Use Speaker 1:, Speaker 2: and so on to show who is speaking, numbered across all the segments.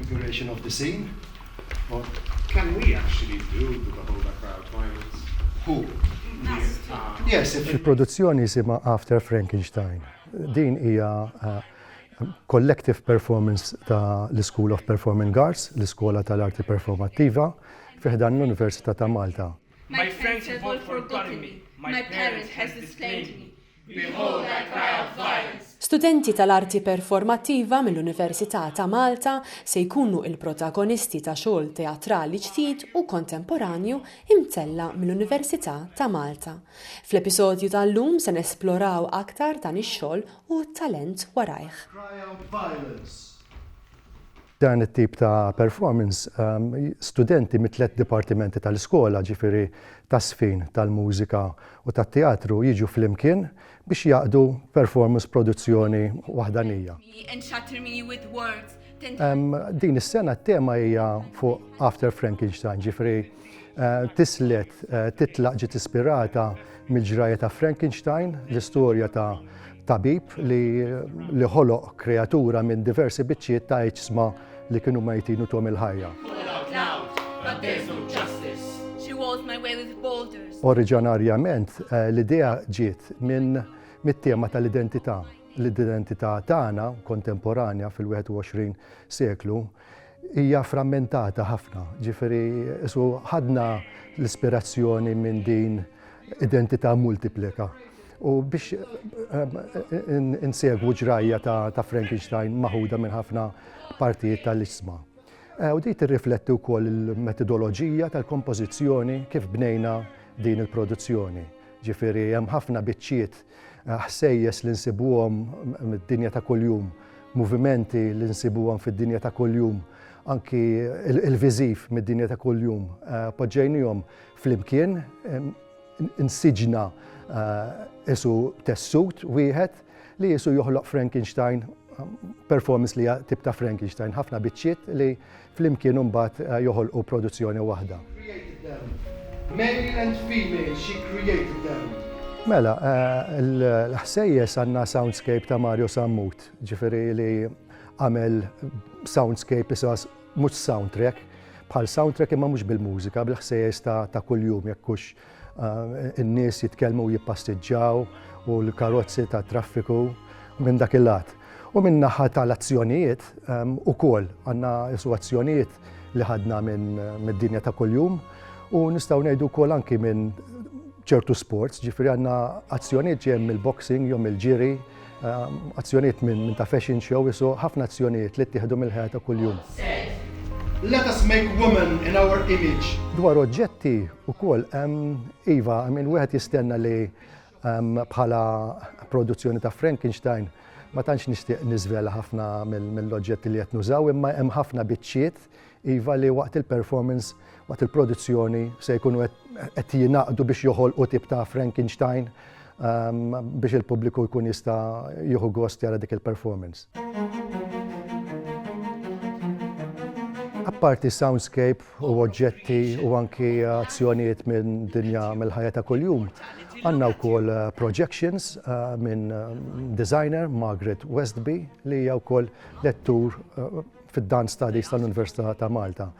Speaker 1: configuration of the scene. Or can we actually do the whole background violence? Who? Yes, if il-produzzjoni jisima After Frankenstein. Din hija uh, collective performance ta' l-School of Performing Arts, l-Iskola tal-Arti Performattiva, fi ħdan l-Università ta' Malta. My friends have all forgotten me, my parents has disclaimed me, behold I cry out violence, Studenti tal-Arti Performattiva mill-Università ta' Malta se jkunu il-protagonisti ta' xogħol teatrali ġdid u kontemporanju imtella' mill-Università ta' Malta. Fl-episodju tal-lum se nesploraw aktar dan ix-xogħol u t-talent warajh. Dan it-tip ta' performance, studenti mit-tliet dipartimenti tal-iskola, ġifieri tagħżfin, tal-mużika u tat-teatru jiġu flimkien biex jgħaqqdu performance produzzjoni waħdanija. Din is-sena t-tema hija fuq After Frankenstein, ġifieri Tislet titlaq ġiet ispirata mill-ġrajja ta' Frankenstein, l-istorja ta' tabib li li ħoloq kreatura minn diversi biċċiet ta' iġsma li kienu mejtin u tuhom il-ħajja. Oriġanarjament l-idea ġiet minn mit-tema tal-identità, l-identità tagħna kontemporanja fil-21 seklu, Hija frammentata ħafna, ġifieri isu ħadna l-ispirazzjoni minn din identità multiplika. U biex eh, insegwu ġrajja ta' Frankenstein maħuda minn ħafna partijiet tal-isma. Eh, u di tirrifletti wkoll il-metodoloġija tal-kompożizzjoni kif bnejna din il-produzzjoni. Ġifieri hemm ħafna biċċiet ħsejjes li nsibuhom mid-dinja ta' kuljum, movimenti li nsibuhom fid-dinja ta' kuljum, anki il-viżiv mid-dinja ta' kuljum, poġġejnihom flimkien, insiġna qisu tessut wieħed li qisu joħloq Frankenstein, performance li hija tip ta' Frankenstein, ħafna biċċiet li flimkien imbagħad joħolqu produzzjoni waħda. Mela, l-ħsejjes għandna soundscape ta' Mario Sammut, ġifieri li għamel soundscape isa mhux soundtrack, bħal soundtrack imma mhux bil-mużika, bil-ħsejjes ta' kuljum jekk hux In-nies jitkellmu u jippastiġġaw u l-karozzi ta' traffiku minn dak il-lat. U minn naħa tal-azzjonijiet ukoll għandna isu azzjonijiet li ħadna mid-dinja ta' kuljum u nistgħu ngħidu wkoll anki minn ċertu sports, ġifieri għandna azzjonijiet ġejjin mill-boxing jew mill-ġiri, azzjonijiet minn ta' fashion show isu ħafna azzjonijiet li ttieħdu mill-ħajja ta' kuljum. Let us make woman in our image. Dwar oġġetti wkoll iva, I mean wieħed jistenna li bħala produzzjoni ta' Frankenstein ma tantx nixtieq niżvela ħafna mill-oġġetti li qed nużaw imma hemm ħafna biċċiet Iva li waqt il-performance, waqt il-produzzjoni, se jkunu qed jingħaqdu biex joħolqu tip ta' Frankenstein ehm, biex il-pubbliku jkun jista' jieħu gost jara dik il-performance. Apparti soundscape u oġġetti u anki azzjonijiet minn dinja mill-ħajja ta' kuljum, għandna wkoll eh, projections eh, minn eh, designer Margaret Westby li hija wkoll lettur fid-Dan Studies tal-Università ta' Malta.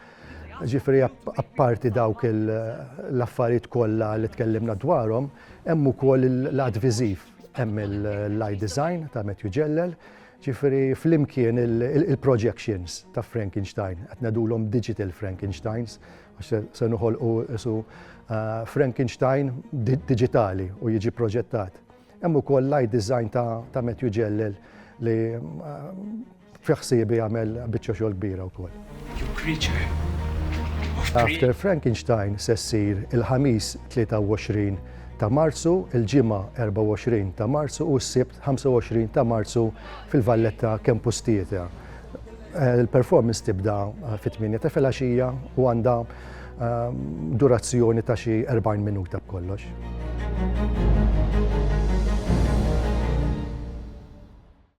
Speaker 1: Ġifri, apparti dawk l-affarijiet kollha li tkellimna dwarhom, hemm ukoll l-għad viżiv, hemm l-eye design ta' Matthew Ġellel, ġifri flimkien il-projections ta' Frankenstein, qed ngħidulhom digital Frankensteins, għax se noħolqu isu eh, Frankenstein digitali u jiġi proġettat. Hemm ukoll l-eye design ta' Matthew Ġellel li eh, Fi ħsiebi għamel biċċa xogħol kbira wkoll. You creature of dream. After Frankenstein se ssir il-Ħamis 23 ta' Marzu, il-Ġimgħa 24 ta' Marzu u s-Sibt 25 ta' Marzu fil-Valletta Campus Theatre. Eh, il-performance tibda eh, fit-8 ta' filgħaxija u għandha eh, durazzjoni ta' xi 40 minuta b'kollox.